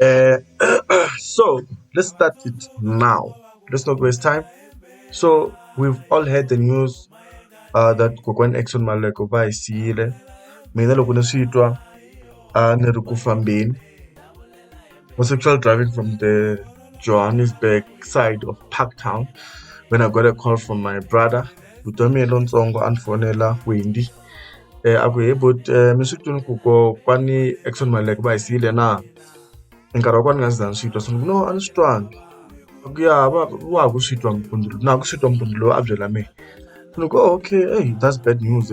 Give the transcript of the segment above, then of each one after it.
Uh, so let's start it now. Let's not waste time. So we've all heard the news uh, that Kokwan Exxon Maleko va hi siyile. Mina loko ni swi twa a ni ri ku fambeni. Was sexual driving from the Johannesburg side of Parktown when I got a call from my brother. Vutomi lontsongo a ni fonela Wendy a ku he bot mi swi twini ku kokwani Eckson Maluleke va hi siyile na nkarhi wa kona ni nga se za ni swi twa se ni ku no a ni swi twangi a ku ya va wa ha ku swi twa mpundzu lowu na ha ku swi twa mpundzu lowu a byela mehe se ni ku okay that's bad news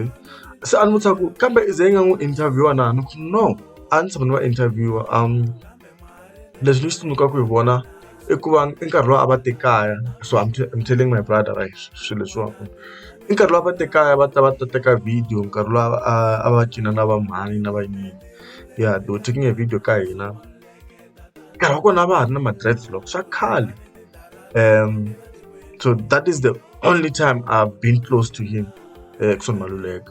se a ni vutisa ku kambe i ze i nga n'wi interviewer na ni ku no a ni tshama ni va interviewer . Leswi ni swi tsundzuka ku hi vona i ku va i nkarhi lowu a va te kaya so I'm I'm telling my brother right swilo leswiwani i nkarhi lowu a va te kaya va ta va ta teka video nkarhi lowu a a va cina na va mhani na va yini ya they were taking a video ka hina nkarhi wa kona a va ha ri na ma dreads loko swa khale so that is the only time I've been close to him Eckson Maluleke .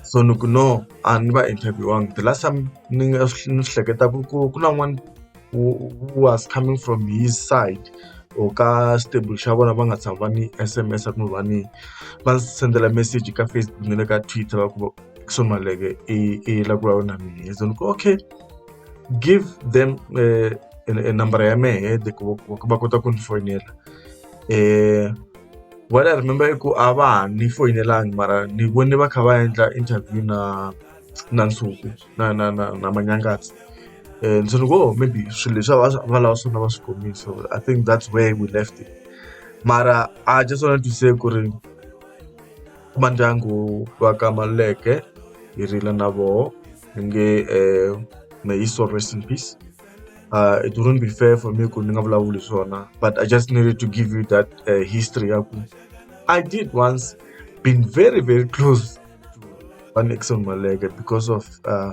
so ni ku no a ni va interview-angi the last time ni nga swi ni swi hleketaku ku ku na n'wani who who was coming from his side or ka stable xa vona va nga tshami va ni S_M_S-a kumbe va ni va ni sendela message ka Facebook na le ka Twitter va ku Ackson Maleke i i la ku vulavula na mina so ni ku okay give them eh, e e number ya mehe de ku va ku va kota ku ni foyinela um What I remember i ku a va ha ni foyinelangi mara ni vone va kha va endla interview na na Nsuku na na na na Manyangatsa and so ni ku oh maybe swilo leswi a va va lava swona va swi kumile so I think that's where we left it mara I just wanted to say ku ri va ndyangu va ka Maluleke hi rila na voho ni nge may his soul rest in peace. uh, it wouldn't be fair for me ku ni nga vulavuli swona but i just needed to give you that uh, history ya ku i did once been very very close to one exon maleke because of uh,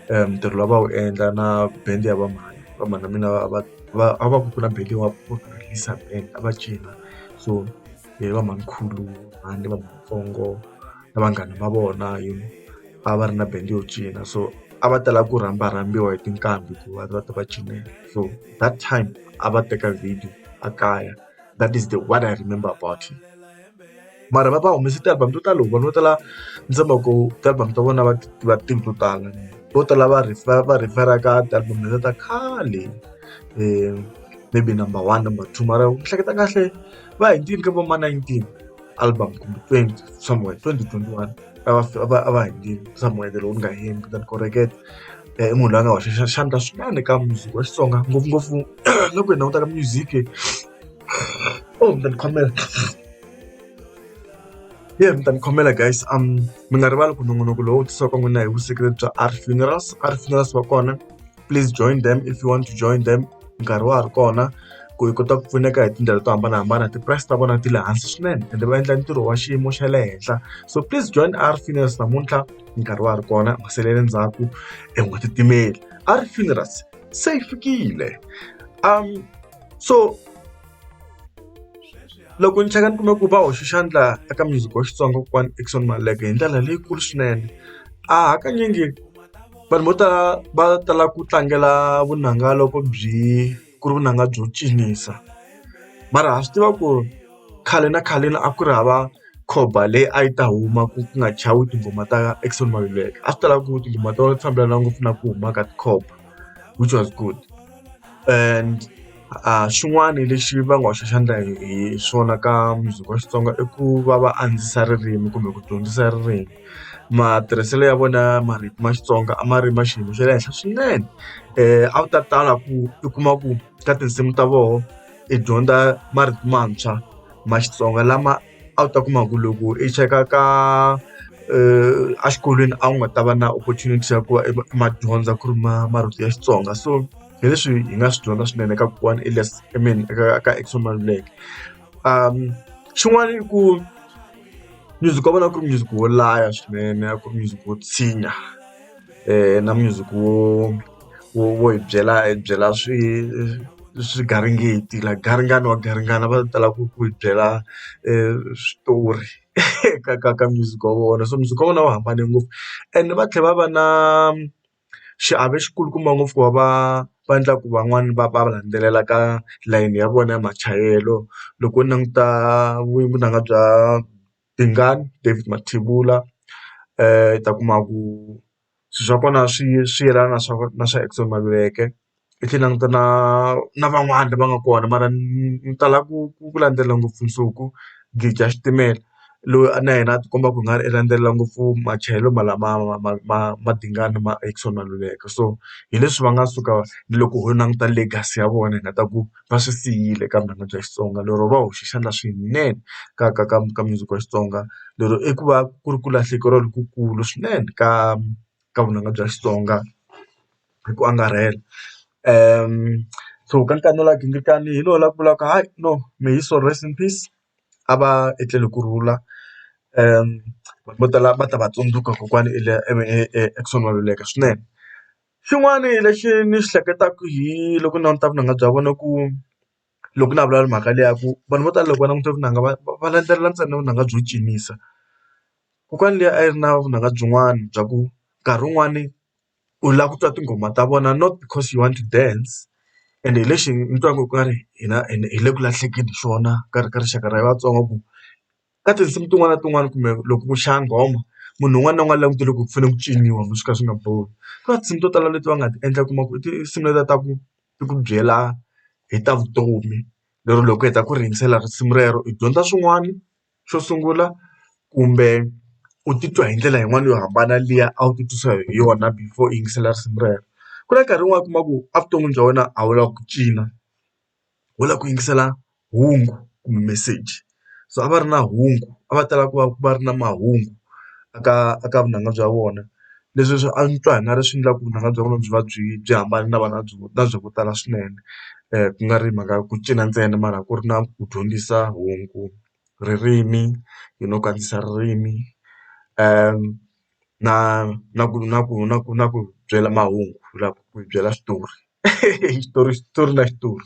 um ntirho lowu va wu endla na band ya vamhani vamhani na mina va va a va ku ku na band leyi wa ku release band a va cina so hi va mhanikhulu ni vamatsongo na vanghana va vona you know va va ri na bandi yo cina so a va tala ku rhamba rhambiwa hi tinqambi ku va va ta va cinela so that time a va teka video a kaya that is the one I remember about him mara va va humese ti-album to tala loko vanhu vo tala ni tshemba ku ti-album ta vona va ti tiva tinhla to tala vo tala va refer va refer ka ti-album letiya ta khale maybe number one number two mara ni hleketa kahle. va hi ndzimi ka vo ma 19 album kumbe 20 somewhere 2021 a va a va a va hi ndzimi somewhere the lowu nga hembi kutani koreketa i munhu loyi a nga hoxa xandla swinene ka music wa xitsonga ngopfungopfu loko hi languta ka music oh mi ta ni khomela ye mi ta ni khomela guys um mi nga rivali ku nongonoko lowu tisiwaka n'wina hi vuseketeri bya art funerals art funerals va kona please join them if you want to join them nkarhi wa ha ri kona ku hi kota ku pfuneka hi tindlela to hambanahambana ti-price ta vona ti le hansi swinene ende va endla ntirho wa xiyimo xa le henhla so please join r funerals namuntlha nkarhi wa ha ri kona u nga selele ndzhaku e u nga titimeli r funerals se yi fikile um so loko ni cheka ni kume ku va hoxe xandla eka music wa xitsonga kokwani Eckson Maleka hi ndlela leyikulu swinene a hakanyingi. vanhu vo tala va tala ku tlangela vunanga loko byi ku ri vunanga byo cinisa mara ha swi tiva ku ri khale na khaleni a ku ri hava khomba leyi a yi ta huma ku ku nga chavi tinghoma ta Eckson Maluleke a swi ta lava ku tinghoma to fambelana ngopfu na ku huma ka tikhomba which was good and. A xin'wana lexi va nga hoxa xandla hi hi swona ka mundzuku wa Xitsonga i ku va va andzisa ririmi kumbe ku dyondzisa ririmi matirhiselo ya vona ya marito ma Xitsonga a ma ri ma xiyimo xa le henhla swinene a wu ta tala ku u kuma ku ka tinsimu ta voho i dyondza marito mantshwa ma Xitsonga lama a wu ta kuma ku loko i cheka ka a xikolweni a wu nga ta va na opportunity ya ku va i ma dyondza ku ri ma marito ya Xitsonga so. hi leswi hi nga swi dyondza swinene eka kokwani Elias I mean eka ka Eckson Maluleke xin'wana i ku music wa vona a ku ri music wo laya swinene a ku ri music wo tshinya na music wo wo wo hi byela hi byela swi swigaringeti like garingani wa garingani va tala ku ku hi byela switori ka ka ka music wa vona so music wa vona wu hambane ngopfu ene va tlhela va va na. Xiave xi kulukumba ngopfu ku va va va endla ku van'wani va va va landzelela ka layeni ya vona ya machayelo loko u languta vunanga bya Dingani David Mathibula u ta kuma ku swilo swa kona swi swi yelana na swa na swa Eckson Maluleke. hi tlhela ni languta na na van'wani lava nga kona mara ni tala ku ku ku landzela ngopfu Nsuku Gija xitimela loyi a na yena a ti komba ku nga ri i landzela ngopfu machayelo ma lama ma ma ma ma dingani ma Exxon Maluleke so hi leswi va nga suka ni loko ho languta legacy ya vona hi nga ta ku va swi siyile ka vunanga bya Xitsonga lero va hoxe xandla swinene ka ka ka ka music wa Xitsonga lero i ku va ku ri ku lahlekeriwa lokukulu swinene ka ka vunanga bya Xitsonga. hi ku angarhela so ka nkarhi lowu nga ghingirikani hi lowu la ku vulaka hayi no may his soul rest in peace a va etleli hi ku rhula vanhu vo tala va ta va tsundzuka kokwani Eckson Maluleke swinene xin'wana lexi ni xi hleketaka hi loko ni languta vunanga bya vona ku loko na vulavula mhaka leyi ya ku vanhu vo tala loko va languta vunanga va va landzelela ntsena vunanga byo cinisa kokwani liya a yi ri na vunanga byin'wana bya ku nkarhi wun'wani. u lava ku twa tinghoma ta vona not because you want to dance and hi lexi ni twaka ku nga ri hina ende hi le ku lahlekeli hi swona ka ri ka rixaka ra Vatsonga ku ka tinsimu tin'wana na tin'wana kumbe loko ku chaya nghoma munhu un'wana na un'wana langutele ku fanele ku ciniwa swi ka swi nga bohi ku na tinsimu to tala leti va nga ti endla u kuma ku i tinsimu leti ta ku ti ku byela hi ta vutomi lero loko u heta ku ringesela risimu rero i dyondza swin'wana. xo sungula kumbe u titwa hi ndlela yin'wani yo hambana liya a wu ti twisa hi yona before u yingisela risimu rero ku na nkarhi wun'wani u kuma ku a vuton'wini bya wena a wu lava ku cina wo lava ku yingisela hungu kumbe meseji so a va ri na hungu a va tala ku va va ri na mahungu eka eka vunanga bya vona leswi swi antswa hi nga ri swi endlaka ku vunanga bya vona byi va byi byi hambana na vana byo na bya ku tala swinene ku nga ri mhaka ya ku cina ntsena mara ku ri na ku dyondzisa hungu ririmi you know ku andzisa ririmi na na ku na ku na ku na ku byela mahungu ku lava ku yi byela xitori xitori xitori na xitori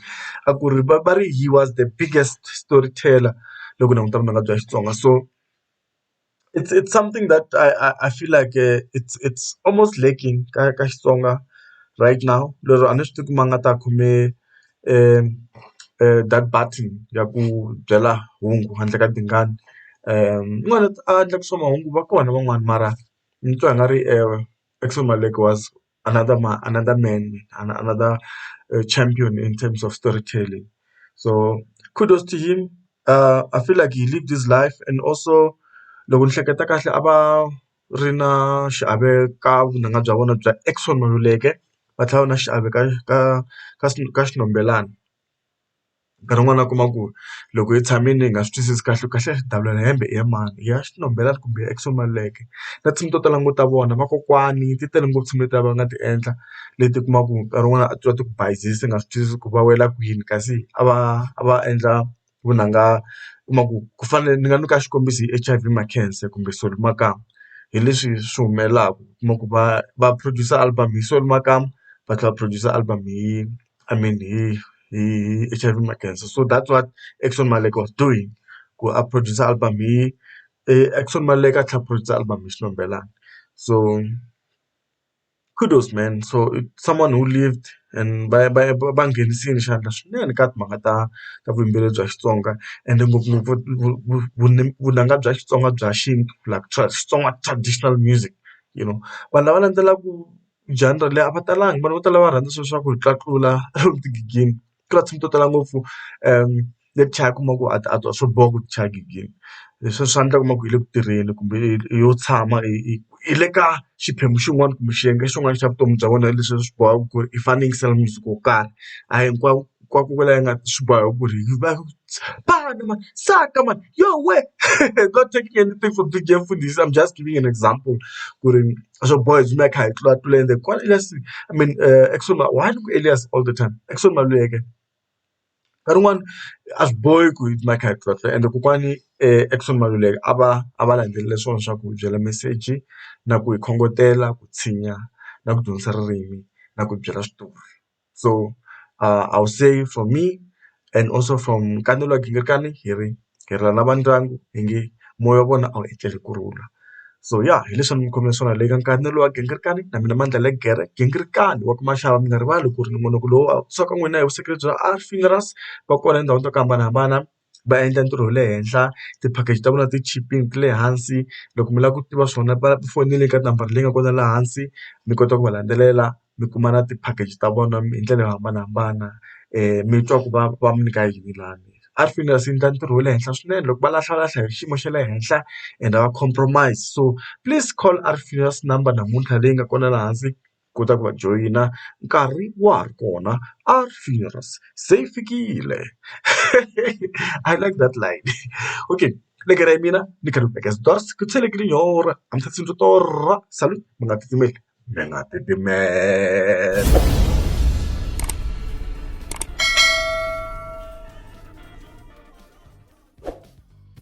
a ku ri va va ri he was the biggest story teller loko u languta vunanga bya Xitsonga so. it's it's something that I I I feel like uh, it's it's almost lacking ka ka Xitsonga right now lero a ni swi tivi ku ma nga ta khome um um that button ya ku byela hungu handle ka tingana um yin'wana a endla ku swa mahungu va kona van'wani mara ni twa i nga ri um Action Malekiwa was. another ma another man and another uh, champion in terms of storytelling. So kudos to him. Uh, I feel like he lived his life and also loko ni hleketa kahle a va ri na xiave ka vunanga bya vona bya Exxon Maluleke va tlhela va na xiave ka ka ka ka xinombelani. nkarhi wun'wani u kuma ku loko hi tshamile hi nga swi twisisi kahle ku kahlekahle davula ra hembe i ya mani i ya xinhombelani kumbe i ya Exo Maluleke na tinsimu to tala ni ngo ta vona vakokwani ti tele ngopfu tinsimu letiya va nga ti endla leti u kumaka ku nkarhi wun'wani a ti va ti ku bayizisa u nga swi twisisi ku va wela kwini kasi a va a va endla vunanga u kuma ku ku fana ni nga nyika xikombiso hi H_I_V Makhensa kumbe Solly Makamu hi leswi swi humelelaku u kuma ku va va produce album hi Solly Makamu va tlhela va produce album hi. I mean hi hi H_I_V na khensa so that what Eckson Maleka was doing ku a produce album hi Eckson Maleka a tlhela a produce album hi Xitumbelelani so kudos man so it someone who lived and va va va nghenisile xandla swinene ka timhaka ta ta vuyimbeleri bya Xitsonga ende ngopfungopfu vunanga bya Xitsonga bya xintu like Xitsonga traditional music you know vanhu lava landzelaka. genre leyi a va talanga vanhu vo tala va rhandza swilo swa ku tlula old gig-ini ku na tinsimu to tala ngopfu leti chayaka u kuma ku a ti a ti a swi bohi ku ti chaya gig-ini leswi swa endlaka u kuma ku hi le ku tirheni kumbe yo tshama hi le ka xiphemu xin'wana kumbe xiyenge xin'wana xa vutomi bya wena leswi swi bohaka ku ri i fanele i yingisela music wo karhi a hi hinkwako ka ku vula ingaku swi boha ku ri hi va mani mani saka mani yoh wena not taking anything from DJ Mfundisi I'm just giving an example ku ri. a swo boha hi tsutsuma hi kha hi tlula tlula ende kwala Elias I mean Eckson why ni ku Elias all the time Eckson Maluleke nkarhi wun'wani a swi bohi ku hi tsutsuma hi kha hi tlula tlula ende kokwani Eckson Maluleke a va a va landzelele swona swa ku hi byela meseji na ku hi khongotela ku tshinya na ku dyondzisa ririmi na ku byela switori. so uh I would say for me and also from ka ni hleketaka hi ri hi ri lava ndyangu hi nge moya wa vona a wu etleli ku rhula so ya hi leswi a ni mi khomela swona le ka nkarhi ni lowa gingirikani na mina mandla le gere gingirikani wa ku maxava mi nga rivali ku ri ni munhu ku lowa so ka n'wina hi vusiku lebyi a funerals va kona etindhawini to hambanahambana. va endla ntirho wa le henhla ti-package ta vona ti chipile ti le hansi loko mi lava ku tiva swona va fonele ka nambara leyi nga kona laha hansi mi kota ku va landzelela mi kuma na ti-package ta vona hi ndlela yo hambanahambana mi twa ku va va mi nyika yini lani a swi fanele swi endla ntirho wa le henhla swinene loko va lahla lahla hi xiyimo xa le henhla and va compromise so please call Art Funerals number namuntlha leyi nga kona laha hansi. kota ku va joyina nkarhi wa ha ri kona a feels se yi fikile I like that line okay ni karhi mina ni karhi ni veka switori ku tshwene ke lenyora a mi se tsundzuka torha salut mi nga titimeli mi nga titimela.